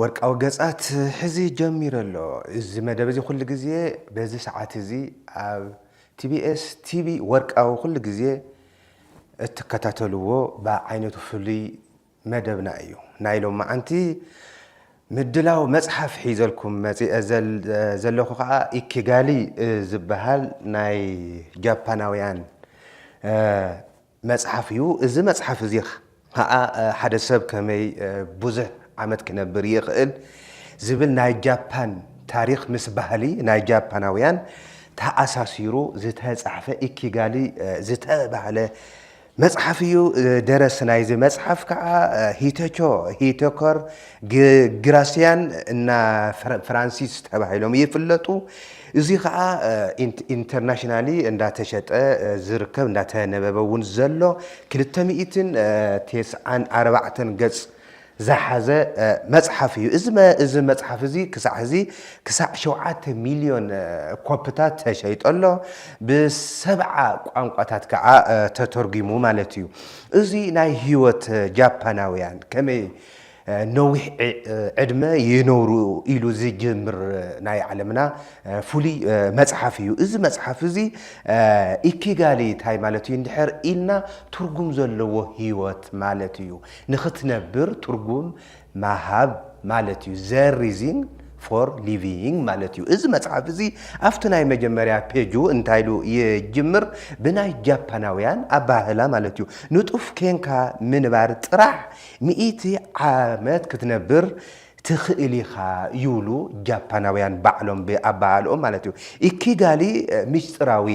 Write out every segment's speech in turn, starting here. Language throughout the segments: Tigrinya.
ወርቃዊ ገጻት ሕዚ ጀሚሩ ኣሎ። እዚ መደብ እዚ ኩሉ ግዜ በዚ ሰዓት እዚ ኣብ ቲቢኤስ ቲቪ ወርቃዊ ኩሉ ግዜ እትከታተልዎ ብዓይነቱ ፍሉይ መደብና እዩ። ናይ ሎማዓንቲ ምድላው መጽሓፍ ሒዘልኩም መጺኤ ዘለኹ ከኣ ኢኪጋሊ ዝበሃል ናይ ጃፓናውያን መጽሓፍ እዩ። እዚ መጽሓፍ እዚ ኸኣ ሓደ ሰብ ከመይ ብዙሕ ዓመት ክነብር ይኽእል ዝብል ናይ ጃፓን ታሪኽ ምስ ባህሊ ናይ ጃፓናውያን ተኣሳሲሩ ዝተጻሕፈ ኢኪጋሊ ዝተባህለ መጽሓፍ እዩ። ደረሲ ናይዚ መጽሓፍ ከኣ ሂተቾ ሂተኮር ግራሲያን እና ፍራንሲስ ተባሂሎም ይፍለጡ። እዚ ከኣ ኢንተርናሽናሊ እንዳተሸጠ ዝርከብ እንዳተነበበ እውን ዘሎ ክልተ ሚእትን ቴስዓን ኣርባዕተን ገጽ ዝሓዘ መጽሓፍ እዩ። እዚ መጽሓፍ እዚ ክሳዕ ሕዚ ክሳዕ ሸውዓተ ሚልዮን ኮፕታት ተሸይጦ ኣሎ። ብሰብዓ ቋንቋታት ከኣ ተተርጒሙ ማለት እዩ። እዚ ናይ ህይወት ጃፓናውያን ከመይ ነዊሕ ዕድመ ይነብሩ ኢሉ ዝጅምር ናይ ዓለምና ፍሉይ መጽሓፍ እዩ። እዚ መጽሓፍ እዚ ኢኪጋሊ እንታይ ማለት እዩ እንድሕር ኢልና ትርጉም ዘለዎ ህይወት ማለት እዩ። ንኽትነብር ትርጉም ምሃብ ማለት እዩ። ዘ ሪዚን ፎር ሊቪንግ ማለት እዩ። እዚ መጽሓፍ እዚ ኣብቲ ናይ መጀመርያ ፔጁ እንታይ ኢሉ ይጅምር ብናይ ጃፓናውያን ኣበሃህላ ማለት እዩ ንጡፍ ኴንካ ምንባር ጥራሕ ሚእቲ ዓመት ክትነብር ትኽእል ኢኻ ይብሉ ጃፓናውያን ባዕሎም ብኣበሃህልኦም ማለት እዩ። ኢኪጋሊ ምስጢራዊ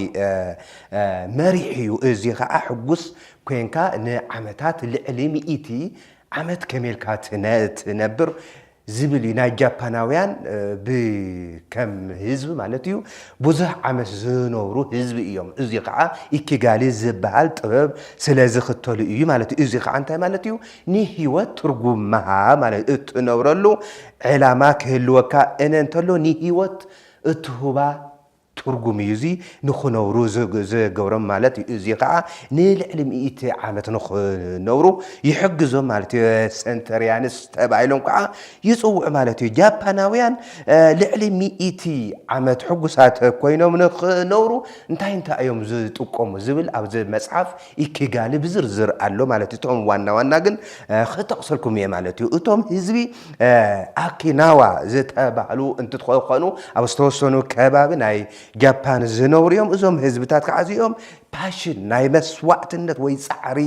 መሪሕ እዩ እዚ ኸኣ ሕጉስ ኰንካ ንዓመታት ልዕሊ ሚእቲ ዓመት ከመይ ኢልካ ትነብር ዝብል እዩ ናይ ጃፓናውያን ብ ከም ህዝቢ ማለት እዩ ብዙሕ ዓመት ዝነብሩ ህዝቢ እዮም እዚ ከዓ ኢኪጋሊ ዝበሃል ጥበብ ስለ ዝክተሉ እዩ ማለት እዩ እዚ ከዓ እንታይ ማለት እዩ ንሂወት ትርጉም ምሃብ ማለት እትነብረሉ ዕላማ ክህልወካ እነ እንተሎ ንሂወት እትሁባ ትርጉም እዩ እዚ ንኽነብሩ ዝገብሮም ማለት እዩ እዚ ኸዓ ንልዕሊ ሚእቲ ዓመት ንኽነብሩ ይሕግዞም ማለት እዩ ሰንተርያንስ ተባሂሎም ከዓ ይፅውዑ ማለት እዩ ጃፓናውያን ልዕሊ ሚእቲ ዓመት ሕጉሳት ኮይኖም ንኽነብሩ እንታይ እንታይ እዮም ዝጥቀሙ ዝብል ኣብዚ መፅሓፍ ኢኪጋሊ ብዝርዝር ኣሎ ማለት እዩ እቶም ዋና ዋና ግን ኽጠቕሰልኩም እየ ማለት እዩ እቶም ህዝቢ ኣኪናዋ ዝተባህሉ እንትትኾኑ ኣብ ዝተወሰኑ ከባቢ ናይ ጃፓን ዝነብሩ እዮም። እዞም ህዝብታት ከዓ እዚኦም ፓሽን ናይ መስዋዕትነት ወይ ፃዕሪ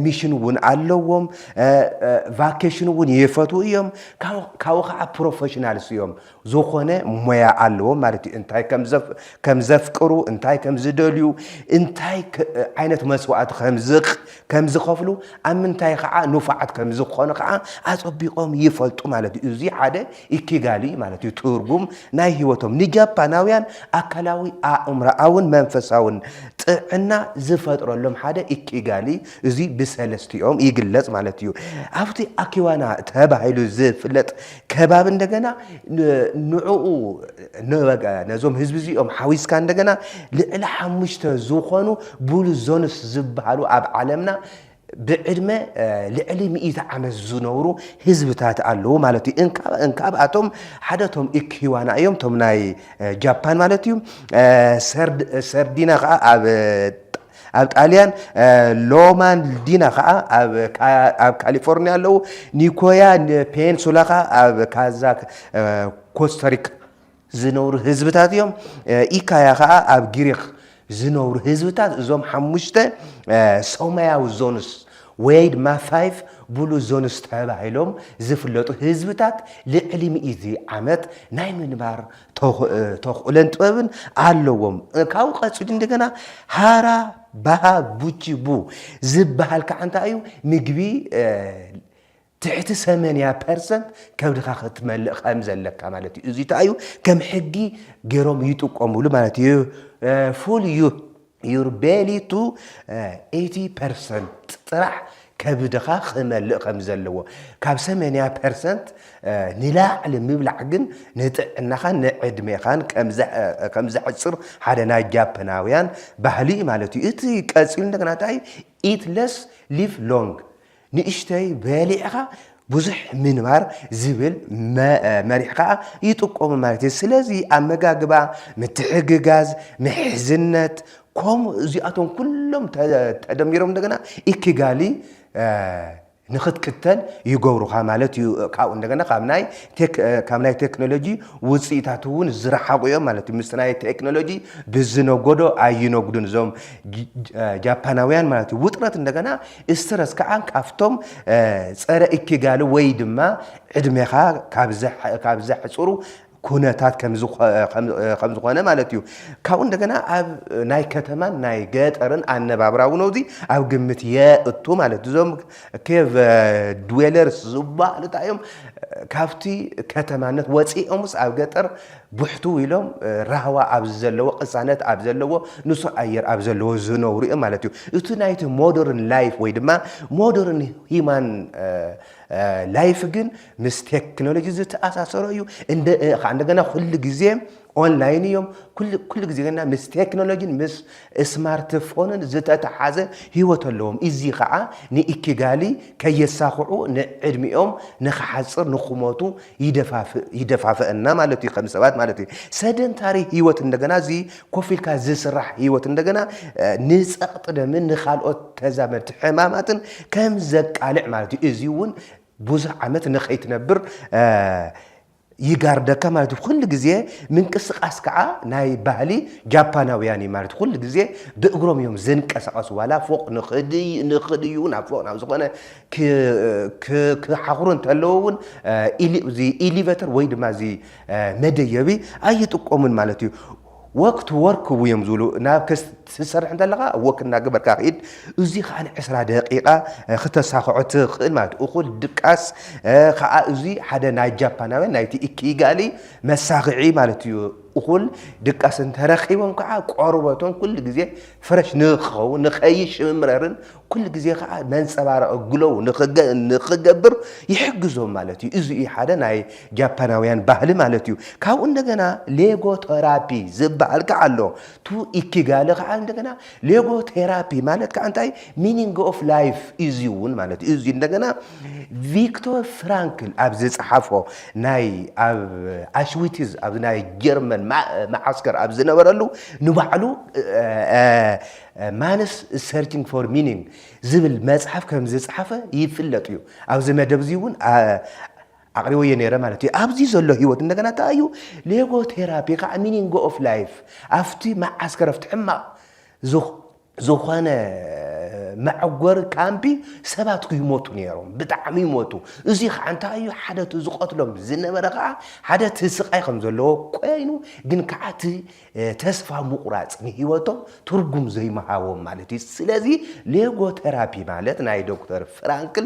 ሚሽን እውን ኣለዎም። ቫኬሽን እውን ይፈትዉ እዮም። ካብኡ ከዓ ፕሮፌሽናልስ እዮም። ዝኾነ ሞያ ኣለዎም ማለት እዩ። እንታይ ከም ዘፍቅሩ፣ እንታይ ከም ዝደልዩ፣ እንታይ ዓይነት መስዋእቲ ከም ዝኸፍሉ፣ ኣብ ምንታይ ከዓ ንፉዓት ከም ዝኾኑ ከዓ ኣጸቢቖም ይፈልጡ ማለት እዩ። እዚ ሓደ ኢኪጋሊ እዩ ማለት እዩ፣ ትርጉም ናይ ህይወቶም። ንጃፓናውያን ኣካላዊ፣ ኣእምሮኣውን መንፈሳውን ጥዕና ዝፈጥረሎም ሓደ ኢኪጋሊ እዚ ብሰለስቲኦም ይግለጽ ማለት እዩ። ኣብቲ ኣኪዋና ተባሂሉ ዝፍለጥ ከባቢ እንደገና ንዕኡ ነዞም ህዝቢ እዚኦም ሓዊስካ እንደገና ልዕሊ ሓሙሽተ ዝኾኑ ብሉ ዞንስ ዝበሃሉ ኣብ ዓለምና ብዕድመ ልዕሊ ሚእቲ ዓመት ዝነብሩ ህዝብታት ኣለዉ ማለት እዩ እንካብኣቶም ሓደ ቶም ኢክሂዋና እዮም ቶም ናይ ጃፓን ማለት እዩ ሰርዲና ከዓ ኣብ ኣብ ጣልያን ሎማንዲና ከዓ ኣብ ካሊፎርኒያ ኣለዉ ኒኮያ ፔንሱላ ከዓ ኣብ ካዛ ኮስተሪክ ዝነብሩ ህዝብታት እዮም ኢካያ ከዓ ኣብ ግሪክ ዝነብሩ ህዝብታት እዞም ሓሙሽተ ሰማያዊ ዞንስ ወይ ድማ ፋይፍ ብሉ ዞንስ ተባሂሎም ዝፍለጡ ህዝብታት ልዕሊ ሚእቲ ዓመት ናይ ምንባር ተኽእለን ጥበብን ኣለዎም። ካብኡ ቀፂሉ እንደገና ሃራ ባሃ ቡቺ ቡ ዝበሃል ከዓ እንታይ እዩ ምግቢ ትሕቲ ሰመንያ ፐርሰንት ከብድኻ ክትመልእ ከም ዘለካ ማለት እዩ። እዚ እንታይ እዩ ከም ሕጊ ገይሮም ይጥቀሙሉ ማለት እዩ ፉል እዩ። ዩር ቤሊ ቱ ኤይቲ ፐርሰንት ጥራሕ ከብድኻ ክመልእ ከም ዘለዎ፣ ካብ ሰመንያ ፐርሰንት ንላዕሊ ምብላዕ ግን ንጥዕናኻን ንዕድሜኻን ከም ዘሕጽር ሓደ ናይ ጃፐናውያን ባህሊ እዩ ማለት እዩ። እቲ ቀጺሉ እንደገና እንታይ እዩ ኢት ለስ ሊቭ ሎንግ ንእሽተይ በሊዕኻ ብዙሕ ምንባር ዝብል መሪሕ ከኣ ይጥቀሙ ማለት እዩ። ስለዚ ኣመጋግባ፣ ምትሕግጋዝ፣ ምሕዝነት ኮም እዚኣቶም ኩሎም ተደሚሮም እንደገና ኢኪጋሊ ንኽትክተል ይገብሩኻ ማለት እዩ። ካብኡ እንደገና ካብ ናይ ካብ ናይ ቴክኖሎጂ ውፅኢታት እውን ዝረሓቑ እዮም ማለት እዩ። ምስ ናይ ቴክኖሎጂ ብዝነጎዶ ኣይነጉዱን እዞም ጃፓናውያን ማለት እዩ። ውጥረት እንደገና ስትረስ ከዓ ካብቶም ፀረ እኪጋሊ ወይ ድማ ዕድሜኻ ካብ ዘሕፅሩ ኩነታት ከምዝኾነ ማለት እዩ። ካብኡ እንደገና ኣብ ናይ ከተማን ናይ ገጠርን ኣነባብራ እውን ኣብዚ ኣብ ግምት የእቱ ማለት እዩ። እዞም ኬቭ ድዌለርስ ዝበሃሉ እንታይ እዮም? ካብቲ ከተማነት ወፂኦምስ ኣብ ገጠር ብሕትው ኢሎም ራህዋ ኣብ ዝዘለዎ፣ ቅሳነት ኣብ ዘለዎ፣ ንጹህ ኣየር ኣብ ዘለዎ ዝነብሩ እዮም ማለት እዩ። እቲ ናይቲ ሞደርን ላይፍ ወይ ድማ ሞደርን ሂማን ላይፍ ግን ምስ ቴክኖሎጂ ዝተኣሳሰሮ እዩ። እንደ ኸዓ እንደገና ኩሉ ግዜ ኦንላይን እዮም። ኩሉ ኩሉ ግዜ ግና ምስ ቴክኖሎጂን ምስ ስማርት ፎንን ዝተተሓዘ ህይወት ኣለዎም። እዚ ኸዓ ንኢኪጋሊ ከየሳኽዑ ንዕድሚኦም ንክሓጽር ንክሞቱ ይደፋፍእ ይደፋፈኣና ማለት እዩ ከም ሰባት ማለት እዩ። ሰደንታሪ ህይወት እንደገና እዚ ኮፍ ኢልካ ዝስራሕ ህይወት እንደገና ንጸቕጢ ደምን ንካልኦት ተዛመድቲ ሕማማትን ከም ዘቃልዕ ማለት እዩ። እዚ እውን ብዙሕ ዓመት ንኸይትነብር ይጋርደካ ማለት እዩ። ኩሉ ግዜ ምንቅስቓስ ከዓ ናይ ባህሊ ጃፓናውያን እዩ ማለት ኩሉ ግዜ ብእግሮም እዮም ዝንቀሳቐሱ ዋላ ፎቕ ንኽድዩ ንኽድዩ ናብ ፎቕ ናብ ዝኾነ ክሓኽሩ እንተለዉ እውን ኢሊቨተር ወይ ድማ እዚ መደየቢ ኣይጥቀሙን ማለት እዩ። ወክት ወርክ እዮም ዝብሉ ናብ ክትሰርሕ እንተለካ ወክ እናገበርካ ክኢድ እዚ ከዓ ዕስራ ደቂቃ ክተሳክዖ ትኽእል ማለት እኹል ድቃስ ከዓ እዚ ሓደ ናይ ጃፓናውያን ናይቲ ኢኪጋሊ መሳክዒ ማለት እዩ እኹል ድቃስ እንተረኪቦም ከዓ ቆርበቶም ኩሉ ግዜ ፍረሽ ንክኸውን ንከይሽምረርን ኩሉ ግዜ ከኣ መንጸባረቒ ግሎው ንኽገብር ይሕግዞም ማለት እዩ። እዚ እዩ ሓደ ናይ ጃፓናውያን ባህሊ ማለት እዩ። ካብኡ እንደገና ሌጎ ቶራፒ ዝበሃል ከኣ ኣሎ። ቱ ኢኪጋለ ከኣ እንደገና ሌጎ ቴራፒ ማለት ከኣ እንታይ ሚኒንግ ኦፍ ላይፍ እዚ እውን ማለት እዩ። እዚ እንደገና ቪክቶር ፍራንክል ኣብ ዝጸሓፎ ናይ ኣብ ኣሽዊትዝ ኣብ ናይ ጀርመን መዓስከር ኣብ ዝነበረሉ ንባዕሉ ማንስ ኢዝ ሰርቺንግ ፎር ሚኒንግ ዝብል መጽሓፍ ከም ዝጸሓፈ ይፍለጥ እዩ። ኣብዚ መደብ እዚ እውን ኣቕሪበዮ ነይረ ማለት እዩ። ኣብዚ ዘሎ ህይወት እንደገና እንታይ እዩ ሌጎ ቴራፒ ከዓ ሚኒንግ ኦፍ ላይፍ ኣብቲ መዓስከረፍቲ ሕማቕ ዝኾነ መዕጎሪ ካምፒ ሰባት ክይሞቱ ነይሮም ብጣዕሚ ይሞቱ እዚ ከዓ እንታይ እዩ ሓደ እቲ ዝቐትሎም ዝነበረ ከዓ ሓደ እቲ ስቃይ ከም ዘለዎ ኮይኑ ግን ከዓ እቲ ተስፋ ምቑራጽ ንህይወቶም ትርጉም ዘይምሃቦም ማለት እዩ። ስለዚ ሌጎተራፒ ማለት ናይ ዶክተር ፍራንክል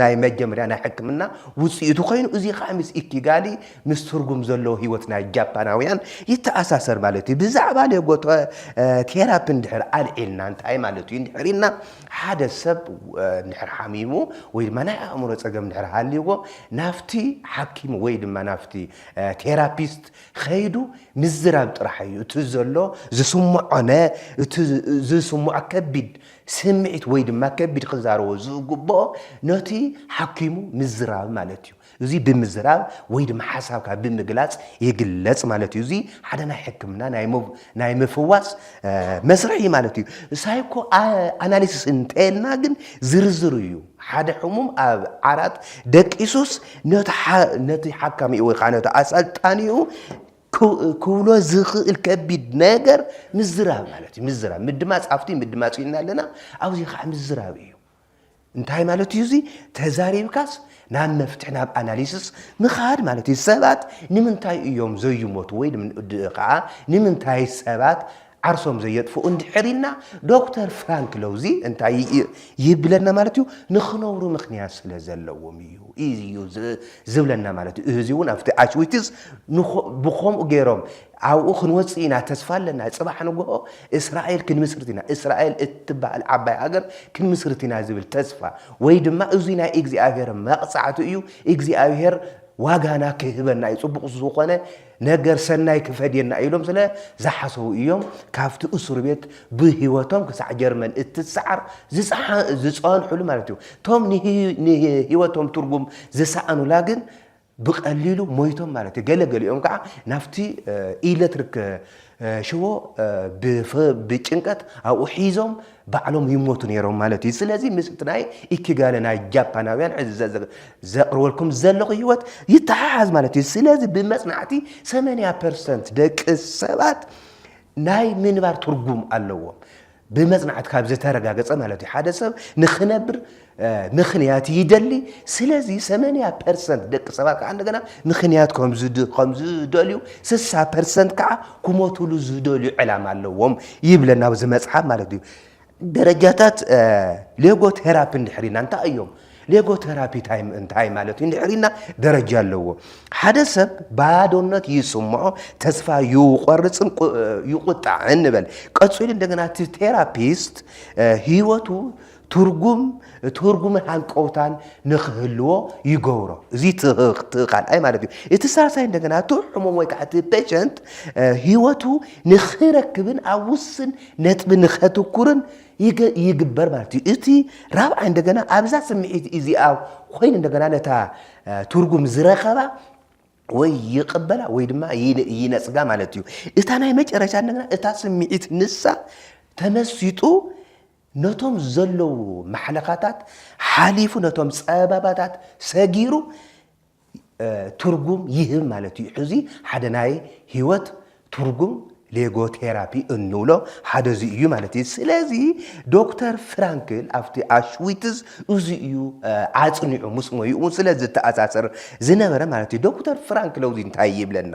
ናይ መጀመርያ ናይ ሕክምና ውጽኢቱ ኮይኑ እዚ ከዓ ምስ ኢኪጋሊ ምስ ትርጉም ዘለዎ ህይወት ናይ ጃፓናውያን ይተኣሳሰር ማለት እዩ። ብዛዕባ ሌጎተ ቴራፒ እንድሕር ኣልዒልና እንታይ ማለት እዩ እንድሕር ኢልና ሓደ ሰብ እንድሕር ሓሚሙ ወይ ድማ ናይ ኣእምሮ ጸገም እንድሕር ሃልይዎ ናብቲ ሓኪም ወይ ድማ ናብቲ ቴራፒስት ኸይዱ ምዝራብ ጥራሕ እዩ እቲ ዘሎ ዝስምዖነ እቲ ዝስምዖ ከቢድ ስምዒት ወይ ድማ ከቢድ ክዛረቦ ዝግብኦ ነቲ ሓኪሙ ምዝራብ ማለት እዩ እዚ ብምዝራብ ወይ ድማ ሓሳብካ ብምግላፅ ይግለፅ ማለት እዩ እዚ ሓደ ናይ ሕክምና ናይ ምፍዋስ መስርሕ እዩ ማለት እዩ ሳይኮ ኣናሊሲስ እንተልና ግን ዝርዝር እዩ ሓደ ሕሙም ኣብ ዓራት ደቂሱስ ነቲ ሓካሚኡ ወይ ከዓ ነቲ ኣሰልጣኒኡ ክብሎ ዝኽእል ከቢድ ነገር ምዝራብ ማለት እዩ። ምዝራብ ምድማፅ ኣብቲ ምድማፅ ኢልና ኣለና ኣብዚ ከዓ ምዝራብ እዩ። እንታይ ማለት እዩ እዚ ተዛሪብካስ ናብ መፍትሒ ናብ ኣናሊስስ ምኻድ ማለት እዩ። ሰባት ንምንታይ እዮም ዘይሞቱ ወይ ከዓ ንምንታይ ሰባት ዓርሶም ዘየጥፍኡ እንድሕር ኢልና ዶክተር ፍራንክ ለውዚ እንታይ ይብለና ማለት እዩ ንክነብሩ ምክንያት ስለ ዘለዎም እዩ እዩ ዝብለና ማለት እዩ እዚ እውን ኣብቲ ኣሽዊትስ ብከምኡ ገይሮም ኣብኡ ክንወፅእ ኢና ተስፋ ኣለና ፅባሕ ንግሆ እስራኤል ክንምስርት ኢና እስራኤል እትበሃል ዓባይ ሃገር ክንምስርት ኢና ዝብል ተስፋ ወይ ድማ እዙይ ናይ እግዚኣብሄር መቕፃዕቲ እዩ እግዚኣብሄር ዋጋና ክህበና እዩ ፅቡቕ ዝኾነ ነገር ሰናይ ክፈድየና ኢሎም ስለ ዝሓሰቡ እዮም ካብቲ እሱር ቤት ብህይወቶም ክሳዕ ጀርመን እትሰዓር ዝጸንሑሉ ማለት እዩ። እቶም ንህይወቶም ትርጉም ዝሰኣኑላ ግን ብቐሊሉ ሞይቶም ማለት እዩ። ገለ ገሊኦም ከኣ ናብቲ ኤለትሪክ ሽቦ ብጭንቀት ኣብኡ ሒዞም ባዕሎም ይሞቱ ነይሮም ማለት እዩ። ስለዚ ምስ እቲ ናይ ኢኪጋለ ናይ ጃፓናውያን ሕዚ ዘቕርበልኩም ዘለኹ ህይወት ይተሓሓዝ ማለት እዩ። ስለዚ ብመጽናዕቲ ሰመንያ ፐርሰንት ደቂ ሰባት ናይ ምንባር ትርጉም ኣለዎም። ብመጽናዕቲ ካብ ዝተረጋገጸ ማለት እዩ። ሓደ ሰብ ንክነብር ንክንያት ይደሊ ስለዚ ሰመንያ ፐርሰንት ደቂ ሰባት ከዓ እንደገና ንክንያት ከምዝደልዩ ስሳ ፐርሰንት ከዓ ክሞትሉ ዝደልዩ ዕላማ ኣለዎም ይብለና ኣብዚ መፅሓፍ ማለት እዩ ደረጃታት ሌጎ ቴራፒ እንድሕሪና እንታይ እዮም ሌጎ ቴራፒ እንታይ ማለት እዩ እንድሕሪና ደረጃ ኣለዎ ሓደ ሰብ ባዶነት ይስምዖ ተስፋ ይቆርፅን ይቁጣዕን ንበል ቀፂሉ እንደገና እቲ ቴራፒስት ህይወቱ ትርጉም ትርጉምን ሃንቀውታን ንክህልዎ ይገብሮ። እዚ እቲ ካልኣይ ማለት እዩ። እቲ ሳልሳይ እንደገና እቲ ሕሙም ወይ ከዓ እቲ ፔሸንት ህይወቱ ንክረክብን ኣብ ውስን ነጥቢ ንከትኩርን ይግበር ማለት እዩ። እቲ ራብዓይ እንደገና ኣብዛ ስምዒት እዚኣ ኮይኑ እንደገና ነታ ትርጉም ዝረኸባ ወይ ይቕበላ ወይ ድማ ይነጽጋ ማለት እዩ። እታ ናይ መጨረሻ እንደገና እታ ስምዒት ንሳ ተመሲጡ ነቶም ዘለዉ ማሕለኻታት ሓሊፉ ነቶም ጸበባታት ሰጊሩ ትርጉም ይህብ ማለት እዩ። ሕዚ ሓደ ናይ ህይወት ትርጉም ሌጎቴራፒ እንብሎ ሓደ እዚ እዩ ማለት እዩ። ስለዚ ዶክተር ፍራንክል ኣብቲ ኣሽዊትዝ እዚ እዩ ኣጽኒዑ ምስ ሞይኡ ስለ ዝተኣሳሰር ዝነበረ ማለት እዩ። ዶክተር ፍራንክል እዚ እንታይ ይብለና?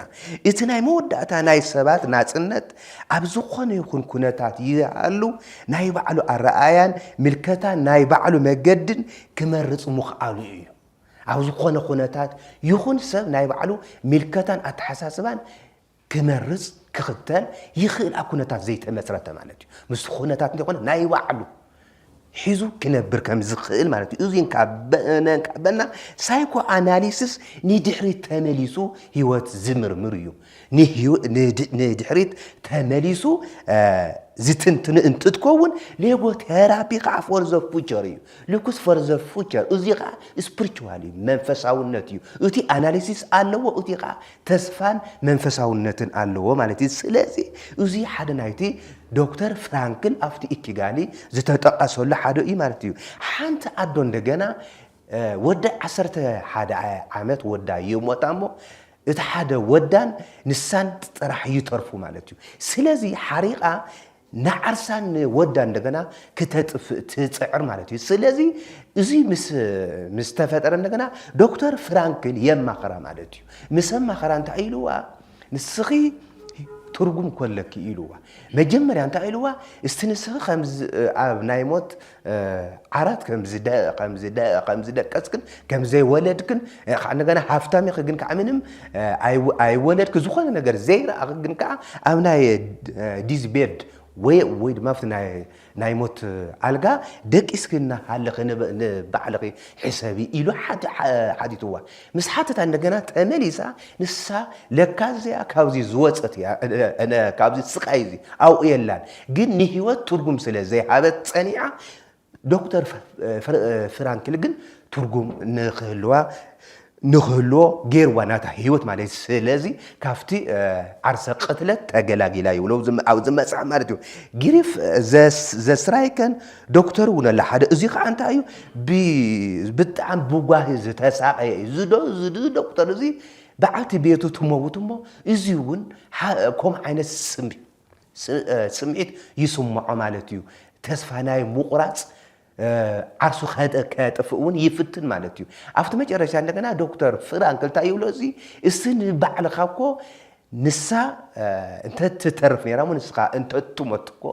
እቲ ናይ መወዳእታ ናይ ሰባት ናጽነት ኣብ ዝኾነ ይኹን ኩነታት ይሃሉ ናይ ባዕሉ ኣረኣእያን ምልከታን ናይ ባዕሉ መገድን ክመርጽ ምኽኣሉ እዩ። ኣብ ዝኾነ ኩነታት ይኹን ሰብ ናይ ባዕሉ ምልከታን ኣተሓሳስባን ክመርጽ፣ ክኽተል፣ ይኽእል ኣብ ኩነታት ዘይተመጽረተ ማለት እዩ። ምስቲ ኩነታት እንተይኮነ ናይ ባዕሉ ሒዙ ክነብር ከም ዝኽእል ማለት እዩ። እዙይ እንካበና ሳይኮ ኣናሊስስ ንድሕሪት ተመሊሱ ህይወት ዝምርምር እዩ። ንድሕሪት ተመሊሱ ዝትንትኑ እንትትከውን ሌጎ ቴራፒ ከዓ ፎር ዘ ፉቸር እዩ ልኩስ ፎር ዘ ፉቸር እዚ ከዓ ስፕሪቹዋል እዩ መንፈሳውነት እዩ እቲ ኣናሊሲስ ኣለዎ እቲ ከዓ ተስፋን መንፈሳውነትን ኣለዎ ማለት እዩ ስለዚ እዚ ሓደ ናይቲ ዶክተር ፍራንክል ኣብቲ ኢኪጋሊ ዝተጠቐሰሉ ሓደ እዩ ማለት እዩ ሓንቲ ኣዶ እንደገና ወዳ ዓሰርተ ሓደ ዓመት ወዳ ይሞታ እሞ እቲ ሓደ ወዳን ንሳን ጥራሕ ይተርፉ ማለት እዩ። ስለዚ ሓሪቓ ንዓርሳን ንወዳ እንደገና ክተጥፍእ ትጽዕር ማለት እዩ። ስለዚ እዚ ምስ ምስ ተፈጠረ እንደገና ዶክተር ፍራንክል የማኸራ ማለት እዩ። ምስ ኣማኸራ እንታይ ኢልዋ ንስኺ ትርጉም ኮለኪ ኢልዋ መጀመርያ እንታይ ኢልዋ እስቲ ንስኺ ከምዚ ኣብ ናይ ሞት ዓራት ከምዝደቀስክን ከምዘይወለድክን ከዓ እንደገና ሃፍታም ኢኺ ግን ከዓ ምንም ኣይወለድክ ዝኾነ ነገር ዘይረኣኺ ግን ከዓ ኣብ ናይ ዲዝ ቤድ ወይ ድማ ኣብቲ ናይ ሞት ኣልጋ ደቂስኪ እናሃለኺ ንባዕልኺ ሕሰቢ ኢሉ ሓቲትዋ። ምስ ሓተታ እንደገና ተመሊሳ ንሳ ለካ እዚኣ ካብዚ ዝወጸት እያ ካብዚ ስቃይ እዚ ኣብኡ የላን ግን ንህይወት ትርጉም ስለ ዘይሃበት ጸኒዓ ዶክተር ፍራንክል ግን ትርጉም ንክህልዋ ንክህልዎ ጌርዋ ናታ ህይወት ማለት ስለዚ ካብቲ ዓርሰ ቅትለት ተገላጊላ ይብሎ ኣብዚ መጽሓፍ ማለት እዩ ጊሪፍ ዘስራይከን ዶክተር እውን ኣላ ሓደ እዚ ከዓ እንታይ እዩ ብ ብጣዕሚ ብጓሂ ዝተሳቐየ እዩ እዚ ዶ እዚ እዚ ዶክተር እዚ በዓልቲ ቤቱ ትመውት እሞ እዚ እውን ሓ- ከምኡ ዓይነት ስም ስ- እ፣ ስምዒት ይስምዖ ማለት እዩ ተስፋ ናይ ምቑራፅ እ፣ ዓርሱ ከ- ከጥፍእ እውን ይፍትን ማለት እዩ ኣብቲ መጨረሻ እንደገና ዶክተር ፍራንክ እንታይ ይብሎ እዚ እስቲ ንባዕልኻ እኮ ንሳ እንተ ትተርፍ ነይራ እሞ ንስኻ እንተ ትሞት እኮ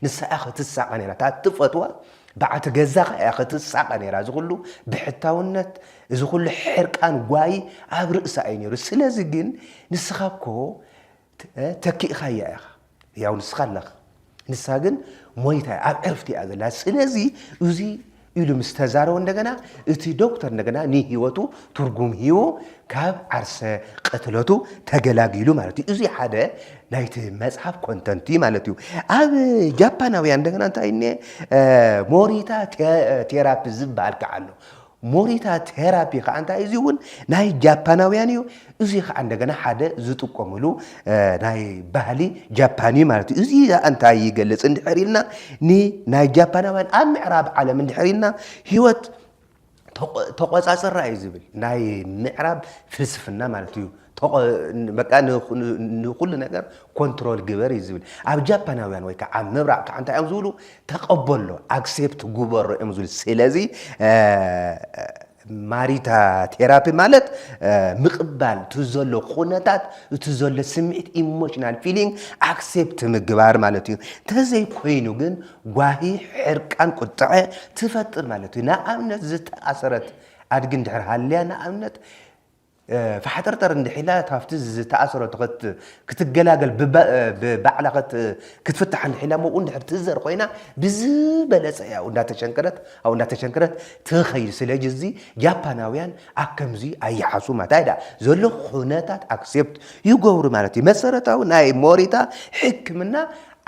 ንሳ እያ ክትሳቐ ነይራ እታ እትፈትዋ በዓቲ ገዛኻ እያ ክትሳቐ ነይራ እዚ ኩሉ ብሕታውነት እዚ ኩሉ ሕርቃን ጓይ ኣብ ርእሳ እዩ ነይሩ ስለዚ ግን ንስኻ እኮ ተኪእኻያ ኢኻ ያው ንስኻ ኣለኽ ንሳ ግን ሞይታ እያ ኣብ ዕርፍቲ እያ ዘላ ስለዚ እዚ ኢሉ ምስ ተዛረቦ እንደገና እቲ ዶክተር እንደገና ንህይወቱ ትርጉም ሂቡ ካብ ዓርሰ ቅትለቱ ተገላጊሉ ማለት እዩ እዚ ሓደ ናይቲ መፅሓፍ ኮንተንት እዩ ማለት እዩ ኣብ ጃፓናውያን እንደገና እንታይ እኒ ሞሪታ ቴራፒ ዝበሃል ከዓ ኣሎ ሞሪታ ቴራፒ ከኣ እንታይ እዩ እዚ እውን ናይ ጃፓናውያን እዩ እዚ ከኣ እንደገና ሓደ ዝጥቀምሉ ናይ ባህሊ ጃፓን እዩ ማለት እዩ እዚ ከኣ እንታይ ይገልጽ እንድሕር ኢልና ንናይ ጃፓናውያን ኣብ ምዕራብ ዓለም እንድሕር ኢልና ህይወት ተቆጻጽራ እዩ ዝብል ናይ ምዕራብ ፍልስፍና ማለት እዩ ቶኽ በቃ ንኹሉ ነገር ኮንትሮል ግበር እዩ ዝብል ኣብ ጃፓናውያን ወይ ከዓ ኣብ ምብራቕ ከዓ እንታይ እዮም ዝብሉ ተቐበሎ ኣክሴፕት ጉበሮ እዮም ዝብል ስለዚ ማሪታ ቴራፒ ማለት ምቕባል እቲ ዘሎ ኩነታት እቲ ዘሎ ስምዒት ኢሞሽናል ፊሊንግ ኣክሴፕት ምግባር ማለት እዩ እንተዘይኮይኑ ግን ጓሂ ሕርቃን ቁጥዐ ትፈጥር ማለት እዩ ንኣብነት ዝተኣሰረት ኣድጊ እንድሕር ሃልያ ንኣብነት ፋሕጠርጠር እንድሕ ኢላ ካብቲ ዝተኣሰረቶ ክትገላገል ብባዕላ ክትፍታሕ እንድሕ ኢላ እሞ እንድሕር ትእዘር ኮይና ብዝበለጸ እያ ኣብኡ እንዳተሸንከረት ኣብኡ እንዳተሸንከረት ትኸይድ ስለጅዚ ጃፓናውያን ኣከምዚ ኣይሓሱማ እንታይ ደኣ ዘሎ ኹነታት ኣክሴፕት ይገብሩ ማለት እዩ መሰረታዊ ናይ ሞሪታ ሕክምና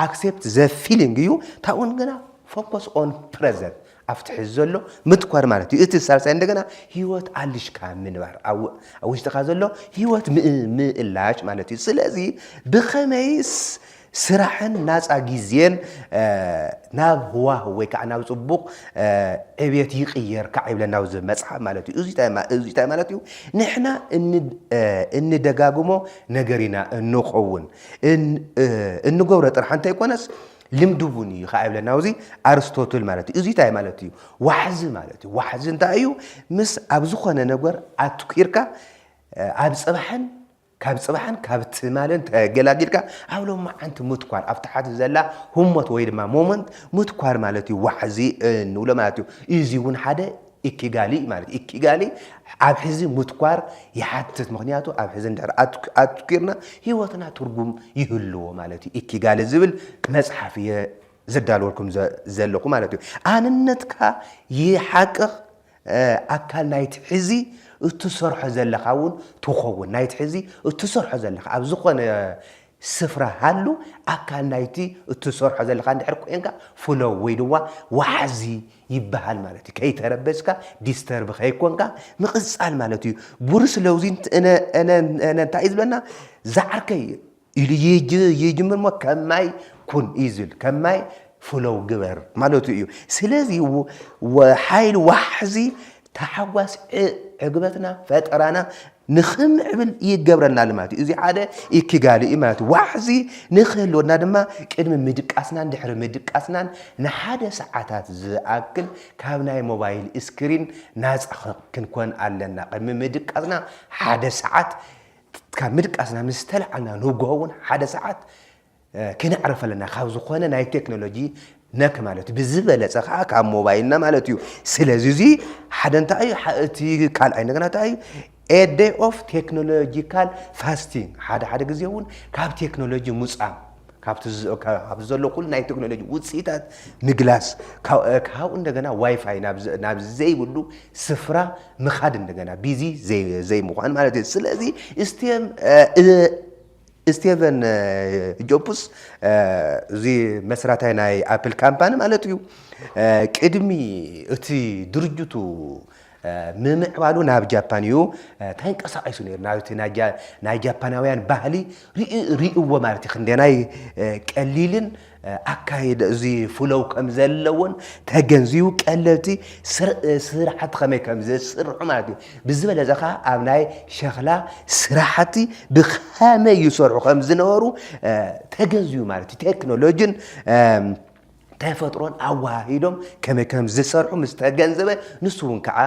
ኣክሴፕት ዘ ፊሊንግ እዩ ታውን ግና ፎከስ ኦን ፕረዘንት ኣብቲ ሕዚ ዘሎ ምትኳር ማለት እዩ። እቲ ሳልሳይ እንደገና ህይወት ኣልሽካ ምንባር ኣብ ውሽጥኻ ዘሎ ህይወት ምእላሽ ማለት እዩ። ስለዚ ብኸመይስ ስራሕን ናፃ ግዜን ናብ ህዋህ ወይ ከዓ ናብ ፅቡቕ ዕብየት ይቕየር ከዓ ይብለና ኣብዚ መፅሓፍ ማለት እዩ። እዚ እንታይ ማለት እዩ? ንሕና እንደጋግሞ ነገር ኢና እንኸውን እንገብሮ ጥራሕ እንተይኮነስ ልምዲ እውን እዩ ከኣ ይብለና ኣብዚ ኣርስቶትል ማለት እዩ። እዙይ እንታይ ማለት እዩ? ዋሕዚ ማለት እዩ። ዋሕዚ እንታይ እዩ? ምስ ኣብ ዝኾነ ነገር ኣትኲርካ ኣብ ጽባሕን ካብ ጽባሕን ካብ ትማልን ተገላጊልካ ኣብ ሎማዓንቲ ምትኳር ኣብ ታሕቲ ዘላ ህሞት ወይ ድማ ሞመንት ምትኳር ማለት እዩ ዋሕዚ እንብሎ ማለት እዩ። እዚ እውን ሓደ ኢኪጋሊ ማለት ኢኪጋሊ ኣብ ሕዚ ምትኳር ይሓትት ምክንያቱ ኣብ ሕዚ እንድሕር ኣትኲርና ህይወትና ትርጉም ይህልዎ ማለት እዩ ኢኪጋሊ ዝብል መፅሓፍ እየ ዘዳልወልኩም ዘለኹ ማለት እዩ ኣንነትካ ይሓቅቕ ኣካል ናይቲ ሕዚ እትሰርሖ ዘለኻ እውን ትኸውን ናይቲ ሕዚ እትሰርሖ ዘለኻ ኣብ ዝኾነ ስፍራ ሃሉ፣ ኣካል ናይቲ እትሰርሖ ዘለኻ እንድሕር ኮይንካ ፍለው ወይ ድማ ዋሓዚ ይበሃል ማለት እዩ። ከይተረበሽካ፣ ዲስተርብ ከይኮንካ ምቕጻል ማለት እዩ። ቡርስ ለውዚ እንታይ እዩ ዝብለና ዝዓርከይ ኢሉ ይጅምር እሞ ከም ማይ ኩን እዩ ዝብል። ከም ማይ ፍለው ግበር ማለቱ እዩ። ስለዚ ሓይል ዋሕዚ ታሓጓስ ዕግበትና ፈጠራና ንኽምዕብል ይገብረና ልማት እዩ። እዚ ሓደ ኢኪጋሊ እዩ ማለት ዋሕዚ ንክህልወና ድማ ቅድሚ ምድቃስናን ድሕሪ ምድቃስናን ንሓደ ሰዓታት ዝኣክል ካብ ናይ ሞባይል እስክሪን ናፃ ክንኮን ኣለና። ቅድሚ ምድቃስና ሓደ ሰዓት ካብ ምድቃስና ምስ ተላዓልና ንጎሆ እውን ሓደ ሰዓት ክነዕርፍ ኣለና ካብ ዝኾነ ናይ ቴክኖሎጂ ነክ ማለት እዩ ብዝበለፀ ከዓ ካብ ሞባይልና ማለት እዩ ስለዚ እዚ ሓደ እንታይ እዩ ሐ- እቲ ካልኣይ እንደገና እንታይ እዩ ኤደ ኦፍ ቴክኖሎጂካል ፋስቲንግ ሓደ ሓደ ግዜ እውን ካብ ቴክኖሎጂ ሙፃም ካብቲ ዝ- ካብ- ኣብዚ ዘሎ ኩሉ ናይ ቴክኖሎጂ ውፅኢታት ምግላስ ካብ- እ፣ ካብኡ እንደገና ዋይፋይ ናብ ዘ- ናብ ዘይብሉ ስፍራ ምኻድ እንደገና ቢዚ ዘይ- ዘይምዃን ማለት እዩ ስለዚ እስቴም እ፣ ስቴቨን ጆብስ እዚ መስራታይ ናይ ኣፕል ካምፓኒ ማለት እዩ ቅድሚ እቲ ድርጅቱ ምምዕባሉ ናብ ጃፓን እዩ ተንቀሳቒሱ ነይሩ ናብቲ ናይ ጃፓናውያን ባህሊ ርእዎ ማለት እዩ ክንደናይ ቀሊልን ኣካይደ እዚ ፍለው ከምዘለዎን ተገንዚቡ ቀለልቲ ስራሕቲ ከመይ ከምዘስርሑ ማለት እዩ። ብዝበለፀ ከዓ ኣብ ናይ ሸኽላ ስራሕቲ ብከመይ ይሰርሑ ከምዝነበሩ ተገንዚቡ ማለት እዩ። ቴክኖሎጂን ተፈጥሮን ኣወሃሂዶም ከመይ ከም ዝሰርሑ ምስ ተገንዘበ ንሱ እውን ከዓ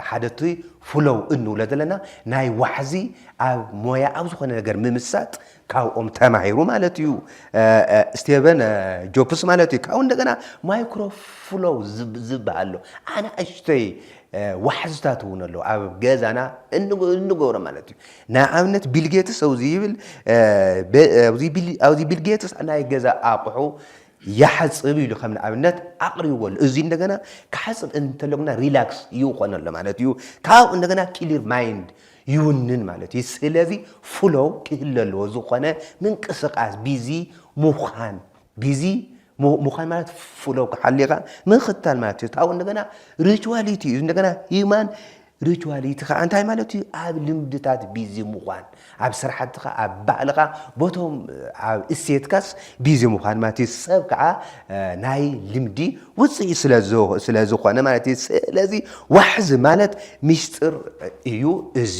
ሓደ እቲ ፍሎው እንብሎ ዘለና ናይ ዋሕዚ ኣብ ሞያ ኣብ ዝኾነ ነገር ምምሳጥ ካብኦም ተማሂሩ ማለት እዩ ስቴቨን ጆፕስ ማለት እዩ ካብኡ እንደገና ማይክሮፍሎው ዝበሃል ኣሎ ኣናእሽተይ ዋሕዝታት እውን ኣለዉ ኣብ ገዛና እንገብሮ ማለት እዩ ንኣብነት ቢልጌትስ ኣብዚ ይብል ኣብዚ ቢልጌትስ ናይ ገዛ ኣቑሑ ይሓፅብ ኢሉ ከም ንኣብነት ኣቕሪብዎ ኣሎ እዚ እንደገና ክሓፅብ እንተለጉና ሪላክስ ይኾነሎ ማለት እዩ ካብኡ እንደገና ክሊር ማይንድ ይውንን ማለት እዩ። ስለዚ ፍሎው ክህሉ ኣለዎ ዝኾነ ምንቅስቃስ ቢዚ ሙኻን ቢዚ ሙኻን ማለት ፍሎው ክሓሊኻ ምኽታል ማለት እዩ። ካብኡ እንደገና ሪቹዋሊቲ እዩ እንደገና ሂማን ሪቹዋሊቲ ከዓ እንታይ ማለት እዩ? ኣብ ልምድታት ቢዚ ምዃን ኣብ ስራሕትኻ ኣብ ባህልኻ ቦቶም ኣብ እሴትካስ ቢዚ ምዃን ማለት እዩ። ሰብ ከዓ ናይ ልምዲ ውፅኢ ስለ ዝኾነ ማለት እዩ። ስለዚ ዋሕዚ ማለት ሚስጥር እዩ። እዚ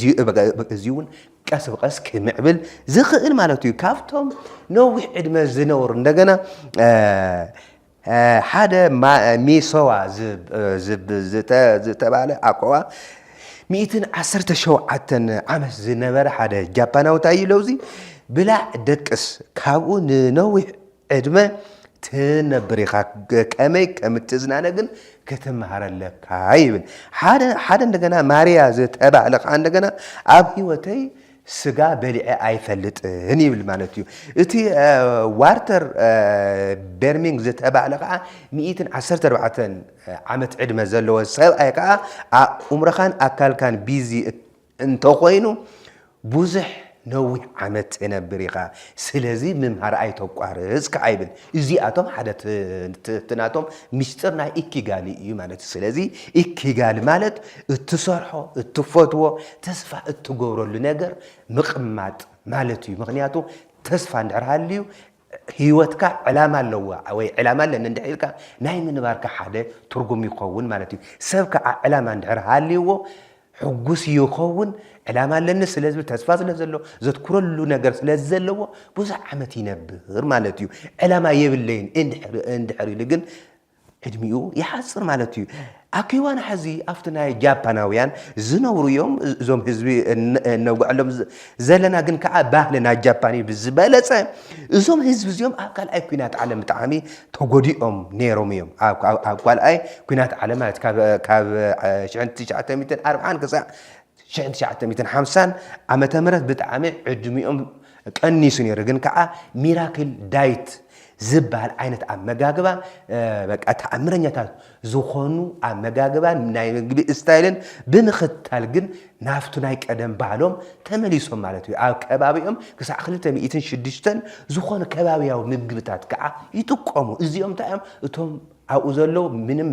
እውን ቀስ ብቀስ ክምዕብል ዝኽእል ማለት እዩ ካብቶም ነዊሕ ዕድመ ዝነብሩ እንደገና ሓደ ሚሶዋ ዝተባለ ኣኮዋ ሚእትን ዓሰርተ ሸውዓተን ዓመት ዝነበረ ሓደ ጃፓናዊ እንታይ እዩ ለውዚ ብላዕ ደቅስ ካብኡ ንነዊሕ ዕድመ ትነብር ኢኻ፣ ከመይ ከም እትዝናነ ግን ክትመሃር ኣለካ ይብል። ሓደ ሓደ እንደገና ማርያ ዝተባህለ ኸኣ እንደገና ኣብ ህይወተይ ስጋ በሊዐ ኣይፈልጥን ይብል ማለት እዩ። እቲ ዋርተር ቤርሚንግ ዝተባህለ ኸኣ ሚእትን ዓሰርተ ኣርባዕተን ዓመት ዕድመ ዘለዎ ሰብኣይ ኸኣ ኣእምሮኻን ኣካልካን ቢዚ እንተኾይኑ ብዙሕ ነዊሕ ዓመት ተነብር ኢኻ ስለዚ ምምሃር ኣይተቋርጽ ከኣ ይብል እዚኣቶም ሓደ እቲ ናቶም ምስጢር ናይ ኢኪጋሊ እዩ ማለት እዩ ስለዚ ኢኪጋሊ ማለት እትሰርሖ እትፈትዎ ተስፋ እትገብረሉ ነገር ምቕማጥ ማለት እዩ ምክንያቱ ተስፋ እንድሕር ሃልዩ ህይወትካ ዕላማ ኣለዋ ወይ ዕላማ ኣለኒ እንድሕር ኢልካ ናይ ምንባርካ ሓደ ትርጉም ይኸውን ማለት እዩ። ሰብ ከዓ ዕላማ እንድሕር ሃልይዎ ሕጉስ ይኸውን። ዕላማ ኣለኒ ስለ ዝብል ተስፋ ስለ ዘሎ ዘትኩረሉ ነገር ስለ ዘለዎ ብዙሕ ዓመት ይነብር ማለት እዩ። ዕላማ የብለይን እንድሕር እንድሕር ኢሉ ግን ዕድሚኡ ይሓጽር ማለት እዩ። ኣብ ክዋን ሐዚ ኣብቲ ናይ ጃፓናውያን ዝነብሩ እዮም እዞም ህዝቢ እነውግዐሎም ዘለና ግን ከዓ ባህሊ ናይ ጃፓን እዩ ብዝበለፀ እዞም ህዝቢ እዚኦም ኣብ ካልኣይ ኩናት ዓለም ብጣዕሚ ተጎዲኦም ነይሮም እዮም ኣብ ካልኣይ ኩናት ዓለም ማለት ካብ 1940 ክሳዕ ሽሕን ትሽዓተ ሚእትን ሓምሳን ዓመተ ምህረት ብጣዕሚ ዕድሚኦም ቀኒሱ ነይሩ ግን ከዓ ሚራክል ዳይት ዝበሃል ዓይነት ኣመጋግባ በቃ ተኣምረኛታት ዝኾኑ ኣመጋግባን ናይ ምግቢ ስታይልን ብምኽታል ግን ናብቱ ናይ ቀደም ባህሎም ተመሊሶም ማለት እዩ ኣብ ከባቢኦም ክሳዕ ክልተ ሚእትን ሽዱሽተን ዝኾኑ ከባቢያዊ ምግብታት ከዓ ይጥቀሙ እዚኦም እንታይ እዮም እቶም ኣብኡ ዘሎ ምንም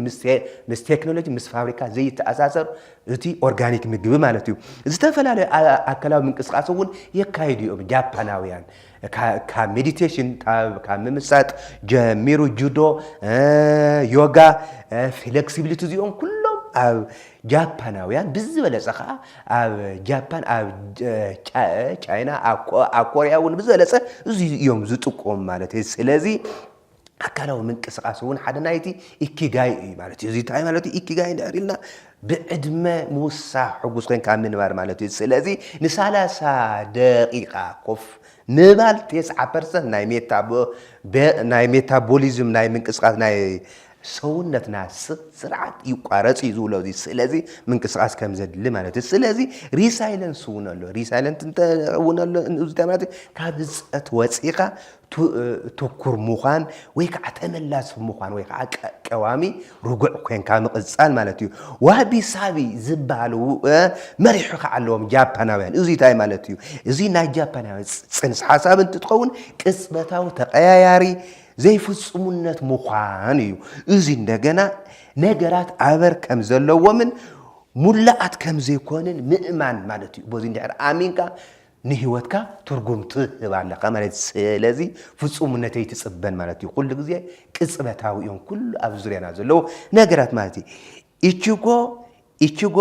ምስ ቴክኖሎጂ ምስ ፋብሪካ ዘይተኣሳሰር እቲ ኦርጋኒክ ምግቢ ማለት እዩ ዝተፈላለዩ ኣከላዊ ምንቅስቃስ እውን የካይዱ እዮም ጃፓናውያን ካብ ሜዲቴሽን ካብ ምምሳጥ ጀሚሩ ጁዶ ዮጋ ፍሌክሲቢሊቲ እዚኦም ኩሎም ኣብ ጃፓናውያን ብዝበለፀ ከዓ ኣብ ጃፓን ኣብ ቻይና ኣብ ኮሪያ እውን ብዝበለፀ እዚ እዮም ዝጥቀሙ ማለት እዩ ስለዚ ኣካላዊ ምንቅስቃስ እውን ሓደ ናይቲ ኢኪጋይ እዩ ማለት እዩ። እዚ እንታይ ማለት እዩ? ኢኪጋይ እንድሕር ኢልና ብዕድመ ምውሳኽ ሕጉስ ኮንካ ምንባር ማለት እዩ። ስለዚ ንሳላሳ ደቂቃ ኮፍ ምባል ቴስዓ ፐርሰንት ናይ ናይ ሜታቦሊዝም ናይ ምንቅስቃስ ናይ ሰውነትና ስርዓት ይቋረጽ እዩ ዝብሎ እዚ ስለዚ ምንቅስቃስ ከም ዘድሊ ማለት እዩ። ስለዚ ሪሳይለንስ እውን ኣሎ ሪሳይለንት እውን ኣሎ እዚ ማለት ካብ ህንፀት ወፂእኻ ትኩር ምዃን ወይ ከዓ ተመላሲ ምዃን ወይ ከዓ ቀዋሚ ርጉዕ ኮንካ ምቕፃል ማለት እዩ። ዋቢ ሳቢ ዝበሃሉ መሪሑ ከዓ ኣለዎም ጃፓናውያን። እዙይ እንታይ ማለት እዩ? እዙይ ናይ ጃፓናውያን ፅንስ ሓሳብ እንትትኸውን ቅፅበታዊ ተቀያያሪ ዘይፍፁምነት ምዃን እዩ። እዙይ እንደገና ነገራት ኣበር ከም ዘለዎምን ሙላኣት ከም ዘይኮንን ምእማን ማለት እዩ። በዙይ እንድሕር ኣሚንካ ንህይወትካ ትርጉም ትህብ ኣለኻ ማለት እዩ። ስለዚ ፍጹምነት ኣይትጽበን ማለት እዩ። ኩሉ ግዜ ቅጽበታዊ እዮም ኩሉ ኣብ ዙርያና ዘለዉ ነገራት ማለት እዩ። ኢቺጎ ኢቺጎ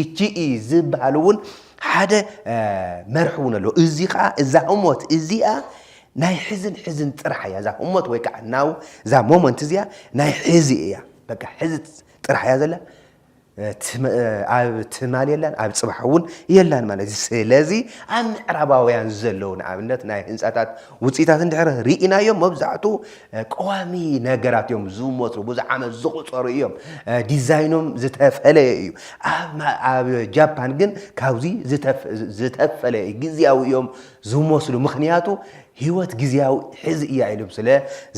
ኢቺኢ ዝበሃል እውን ሓደ መርሒ እውን ኣለዎ። እዚ ከዓ እዛ ህሞት እዚኣ ናይ ሕዝን ሕዝን ጥራሕ እያ። እዛ ህሞት ወይ ከዓ ናው እዛ ሞመንት እዚኣ ናይ ሕዚ እያ። በቃ ሕዚ ጥራሕ እያ ዘላ። ኣብ ትማል የላን ኣብ ጽባሕ እውን የላን ማለት እዩ። ስለዚ ኣብ ምዕራባውያን ዘለዉ ንኣብነት ናይ ህንፃታት ውፅኢታት እንድሕር ርኢናዮም መብዛሕትኡ ቀዋሚ ነገራት እዮም ዝመስሉ፣ ብዙሕ ዓመት ዝቑፀሩ እዮም፣ ዲዛይኖም ዝተፈለየ እዩ። ኣብ ጃፓን ግን ካብዚ ዝተፈለየ እዩ፣ ግዝያዊ እዮም ዝመስሉ ምክንያቱ ህይወት ግዝያዊ ሕዚ እያ ኢሎም ስለ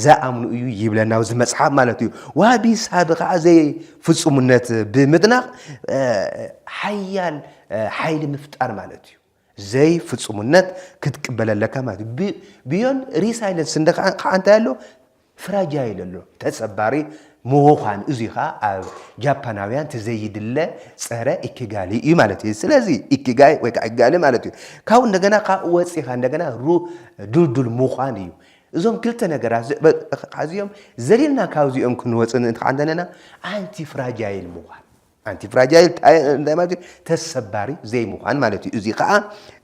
ዝኣምኑ እዩ ይብለና ኣብዚ መፅሓፍ ማለት እዩ። ዋቢ ሳቢ ከዓ ዘይ ፍጹምነት ብምድናቕ ሓያል ሓይሊ ምፍጣር ማለት እዩ። ዘይ ፍጹምነት ክትቅበል ኣለካ ማለት እዩ። ብዮን ሪሳይለንስ እንደ ከዓ እንታይ ኣሎ ፍራጃይል ኣሎ ተሰባሪ ምዃን እዚ ከዓ ኣብ ጃፓናውያን ትዘይድለ ፀረ ኢኪጋሊ እዩ ማለት እዩ ስለዚ ኢኪጋይ ወይ ከዓ ኢጋሊ ማለት እዩ ካብኡ እንደገና ካብ ወፂኻ እንደገና ሩ ድልዱል ምዃን እዩ እዞም ክልተ ነገራት ዝእበእዚኦም ዘሊልና ካብዚኦም ክንወፅን እንተዓንደነና ኣንቲ ፍራጃይል ምዃን ኣንቲ ፍራጃይል እንታይ ማለት እዩ ተሰባሪ ዘይምዃን ማለት እዩ እዚ ከዓ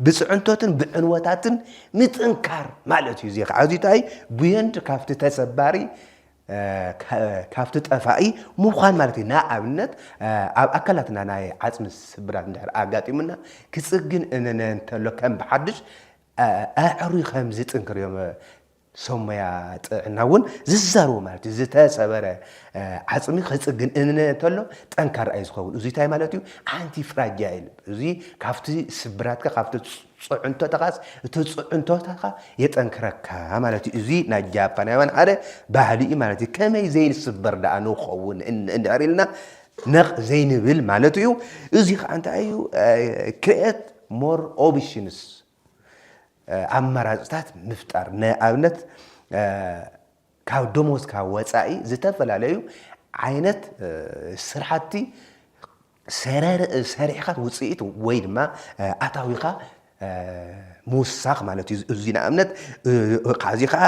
ብፅዕንቶትን ብዕንወታትን ምጥንካር ማለት እዩ እዚ ከዓ እዚ እንታይ ብየንድ ካብቲ ተሰባሪ ካብቲ ጠፋኢ ምዃን ማለት እዩ ንኣብነት ኣብ ኣካላትና ናይ ዓፅሚ ስብራት እንድሕር ኣጋጢሙና ክፅግን እነነ እንተሎ ከም ብሓድሽ ኣዕሩይ ከም ዝጥንክር እዮም ሰብ ሞያ ጥዕና እውን ዝዛረቡ ማለት እዩ። ዝተሰበረ ዓፅሚ ክፅግን እንተሎ ጠንካራ እዩ ዝኸውን። እዙይ እንታይ ማለት እዩ? ኣንቲ ፍራጃይል እዙይ ካብቲ ስብራትካ ካብቲ ፅዕንቶታኻስ እቲ ፅዕንቶታኻ የጠንክረካ ማለት እዩ። እዙይ ናይ ጃፓናውያን ሓደ ባህሊ እዩ ማለት እዩ። ከመይ ዘይንስበር ደኣ ንኸውን እንድሕር ኢልና ነቕ ዘይንብል ማለት እዩ። እዙይ ከዓ እንታይ እዩ ክርኤት ሞር ኦብሽንስ ኣማራፅታት ምፍጣር ንኣብነት ካብ ደሞዝካ ወፃኢ ዝተፈላለዩ ዓይነት ስራሕቲ ሰሪሕኻ ውፅኢት ወይ ድማ ኣታዊኻ ምውሳኽ ማለት እዩ። እዚ ንኣብነት ካብዚ ከዓ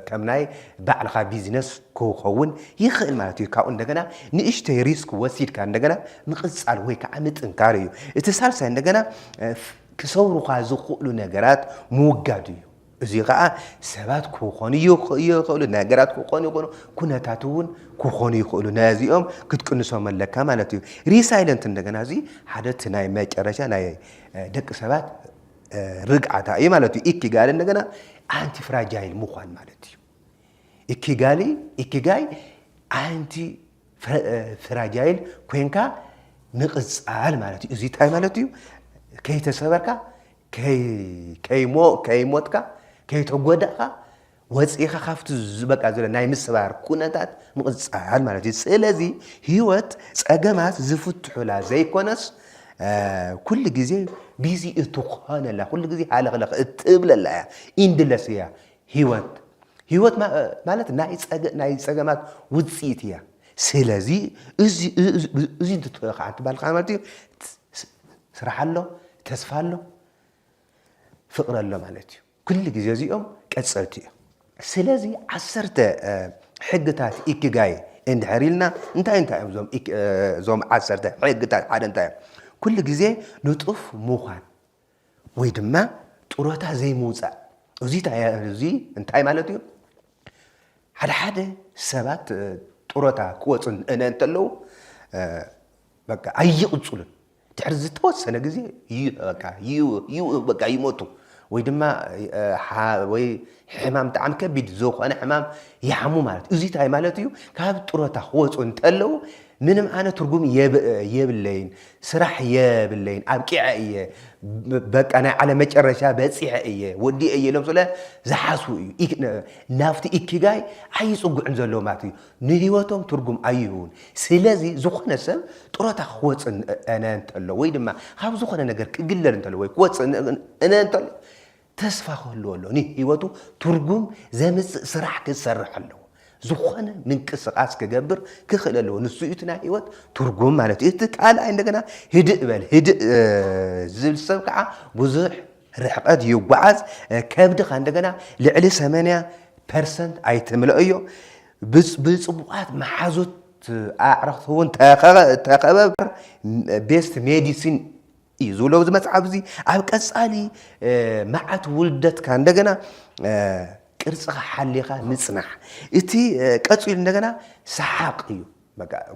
ከም ናይ ባዕልኻ ቢዝነስ ክኸውን ይኽእል ማለት እዩ። ካብኡ እንደገና ንእሽተይ ሪስክ ወሲድካ እንደገና ምቕጻል ወይ ከዓ ምጥንካር እዩ። እቲ ሳልሳይ እንደገና ክሰብሩኻ ዝኽእሉ ነገራት ምውጋድ እዩ። እዚ ከዓ ሰባት ክኾኑ ይኽእሉ፣ ነገራት ክኾኑ ይኽእሉ፣ ኩነታት እውን ክኾኑ ይኽእሉ። ነዚኦም ክትቅንሶም ኣለካ ማለት እዩ። ሪሳይለንት እንደገና እዚ ሓደ እቲ ናይ መጨረሻ ናይ ደቂ ሰባት ርግዓታ እዩ ማለት እዩ። ኢኪጋሪ እንደገና ኣንቲፍራጃይል ምዃን ማለት እዩ። ኢኪጋሊ ኢኪጋይ ኣንቲ ፍራጃይል ኮንካ ምቕጻል ማለት እዩ። እዚ እንታይ ማለት እዩ? ከይተሰበርካ፣ ከይሞትካ፣ ከይተጎዳእካ ወፂእኻ ካብቲ ዝበቃ ዘሎ ናይ ምስባር ኩነታት ምቕፃል ማለት እዩ። ስለዚ ህይወት ፀገማት ዝፍትሑላ ዘይኮነስ ኩሉ ግዜ ቢዚ እትኾነላ ኩሉ ግዜ ሃለኽለኽ እትብለላ እያ ኢንድለስ እያ ህይወት ህይወት ማለት ናይ ጸገማት ውጽኢት እያ ስለዚ እዚ እንትትሪኦ ከዓ እንትባል ከዓ ማለት እዩ ስራሕ ኣሎ ተስፋ ኣሎ ፍቅሪ ኣሎ ማለት እዩ ኩሉ ግዜ እዚኦም ቀፀልቲ እዮም ስለዚ ዓሰርተ ሕግታት ኢኪጋይ እንድሕር ኢልና እንታይ እንታይ እዮም እዞም ዓሰርተ ሕግታት ሓደ እንታይ እዮም ኩሉ ግዜ ንጡፍ ምዃን ወይ ድማ ጡረታ ዘይምውፃእ እዚ እንታይ ማለት እዩ? ሓደ ሓደ ሰባት ጡረታ ክወፁ እንተለዉ በቃ ኣይቕፅሉን ድሕሪ ዝተወሰነ ግዜ ይሞቱ ወይ ድማ ወይ ሕማም ብጣዕሚ ከቢድ ዝኾነ ሕማም ይሓሙ ማለት እዩ። እዙይ ታይ ማለት እዩ? ካብ ጥሮታ ክወፁ እንተለው ምንም ዓይነት ትርጉም የብለይን፣ ስራሕ የብለይን፣ ኣብቂዐ እየ፣ በቃ ናይ ዓለም መጨረሻ በፂሐ እየ፣ ወዲኤ እየ ኢሎም ስለ ዝሓስቡ እዩ። ናብቲ ኢኪጋይ ኣይፅጉዕን ዘለዎ ማለት እዩ። ንህይወቶም ትርጉም ኣይህቡን። ስለዚ ዝኾነ ሰብ ጥሮታ ክወፅ እነ እንተሎ ወይ ድማ ካብ ዝኾነ ነገር ክግለል እንተሎ ወይ ክወፅእ እነ እንተሎ ተስፋ ክህልዎ ኣለዎ፣ ንህይወቱ ትርጉም ዘምጽእ ስራሕ ክሰርሕ ኣለዎ፣ ዝኾነ ምንቅስቓስ ክገብር ክኽእል ኣለዎ፣ ንሱ እዩ እቲ ናይ ህይወት ትርጉም ማለት እዩ። እቲ ካልኣይ እንደገና ህድእ በል፣ ህድእ ዝብል ሰብ ከዓ ብዙሕ ርሕቐት ይጓዓዝ፣ ከብድኻ እንደገና ልዕሊ ሰመንያ ፐርሰንት ኣይትምልኦዮ፣ ብፅቡቓት መሓዙት ኣዕርኽቲ እውን ተኸበብ፣ ቤስት ሜዲሲን እዩ ዝብሎ ኣብዚ መጽሓፍ እዚ ኣብ ቀጻሊ መዓት ውልደትካ እንደገና ቅርጽኻ ሓሊኻ ምጽናሕ እቲ ቀጺሉ እንደገና ሰሓቕ እዩ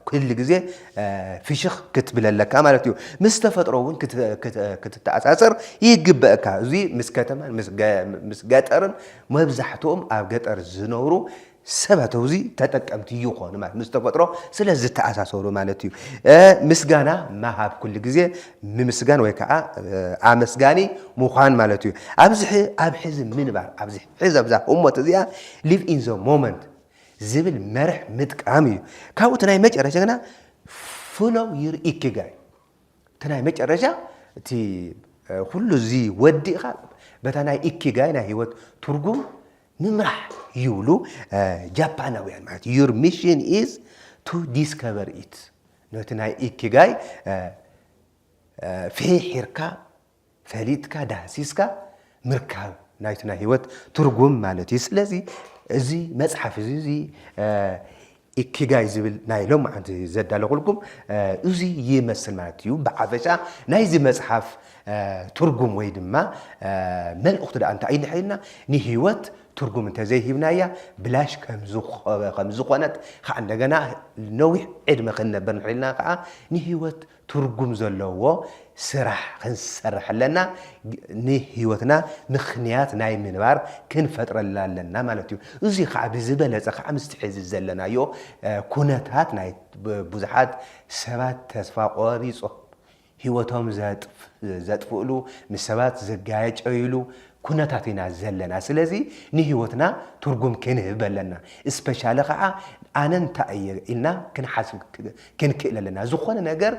ኩሉ ግዜ ፍሽኽ ክትብል ኣለካ ማለት እዩ ምስ ተፈጥሮ እውን ክትተኣሳሰር ይግበእካ እዚ ምስ ከተማን ምስ ገጠርን መብዛሕትኦም ኣብ ገጠር ዝነብሩ ሰባት ኣውዚ ተጠቀምቲ ይኾኑ ማለት ምስ ተፈጥሮ ስለ ዝተኣሳሰሩ ማለት እዩ። ምስጋና ምሃብ ኩሉ ግዜ ምምስጋን ወይ ከዓ ኣመስጋኒ ምዃን ማለት እዩ። ኣብዚ ኣብ ሕዚ ምንባር ኣብዚ ሕዚ ኣብዛ ህሞት እዚኣ ሊቭ ኢን ዘ ሞመንት ዝብል መርሕ ምጥቃም እዩ። ካብኡ እቲ ናይ መጨረሻ ግና ፍሎው ዩር ኢኪጋይ እቲ ናይ መጨረሻ እቲ ኩሉ እዚ ወዲእኻ በታ ናይ ኢኪጋይ ናይ ህይወት ትርጉም ንምራሕ ይብሉ ጃፓናውያን ማለት እዩ ዩር ሚሽን ኢዝ ቱ ዲስከቨር ኢት ነቲ ናይ ኢኪጋይ ፍሒርካ ፈሊጥካ ዳህሲስካ ምርካብ ናይቲ ናይ ህይወት ትርጉም ማለት እዩ ስለዚ እዚ መፅሓፍ እዚ እዚ ኢኪጋይ ዝብል ናይ ሎምዓንቲ ዘዳለኹልኩም እዚ ይመስል ማለት እዩ ብሓፈሻ ናይዚ መጽሓፍ ትርጉም ወይ ድማ መልእኽቱ ደኣ እንታይ እዩ እንድሕር ኢልና ንህይወት ትርጉም እንተዘይሂብናያ ብላሽ ከም ዝኾነት ከዓ እንደገና ነዊሕ ዕድመ ክንነብር እንድሕር ኢልና ከዓ ንህይወት ትርጉም ዘለዎ ስራሕ ክንሰርሕ ኣለና፣ ንህይወትና ምኽንያት ናይ ምንባር ክንፈጥረላ ኣለና ማለት እዩ። እዙይ ከዓ ብዝበለፀ ከዓ ምስቲ ሕዚ ዘለናዮ ኩነታት ናይ ብዙሓት ሰባት ተስፋ ቆሪፆም ህይወቶም ዘጥፍእሉ፣ ምስ ሰባት ዝጋጨይሉ ኩነታት ኢና ዘለና። ስለዚ ንህይወትና ትርጉም ክንህብ ኣለና። እስፔሻሊ ከዓ ኣነ እንታይ እየ ኢልና ክንሓስብ ክንክእል ኣለና። ዝኾነ ነገር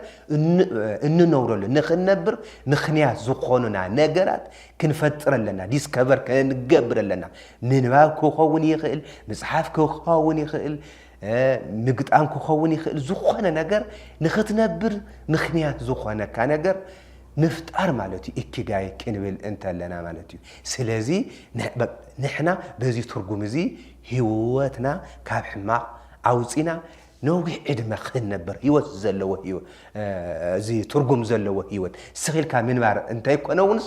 እንነብረሉ ንክንነብር ምክንያት ዝኾኑና ነገራት ክንፈጥር ኣለና። ዲስከቨር ክንገብር ኣለና። ምንባብ ክኸውን ይኽእል፣ ምፅሓፍ ክኸውን ይኽእል፣ ምግጣም ክኸውን ይኽእል። ዝኾነ ነገር ንክትነብር ምክንያት ዝኾነካ ነገር ምፍጣር ማለት እዩ እኪጋይ ክንብል እንተለና ማለት እዩ ስለዚ ንሕና በዚ ትርጉም እዚ ህይወትና ካብ ሕማቕ ኣውፂና ነዊሕ ዕድመ ኽንነብር ህይወት ዘለዎ ህይወት እዚ ትርጉም ዘለዎ ህይወት ስኽ ኢልካ ምንባር እንተይኮነ እውንስ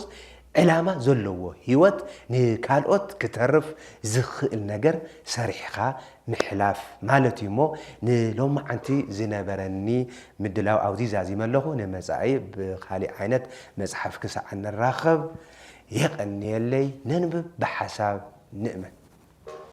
ዕላማ ዘለዎ ህይወት ንካልኦት ክተርፍ ዝኽእል ነገር ሰሪሕኻ ምሕላፍ ማለት እዩ እሞ ንሎማዓንቲ ዝነበረኒ ምድላው ኣብዚ ዛዚመ ኣለኹ ንመፃኢ ብኻሊእ ዓይነት መፅሓፍ ክሳዕ ንራኸብ የቐንየለይ ነንብብ ብሓሳብ ንእመን።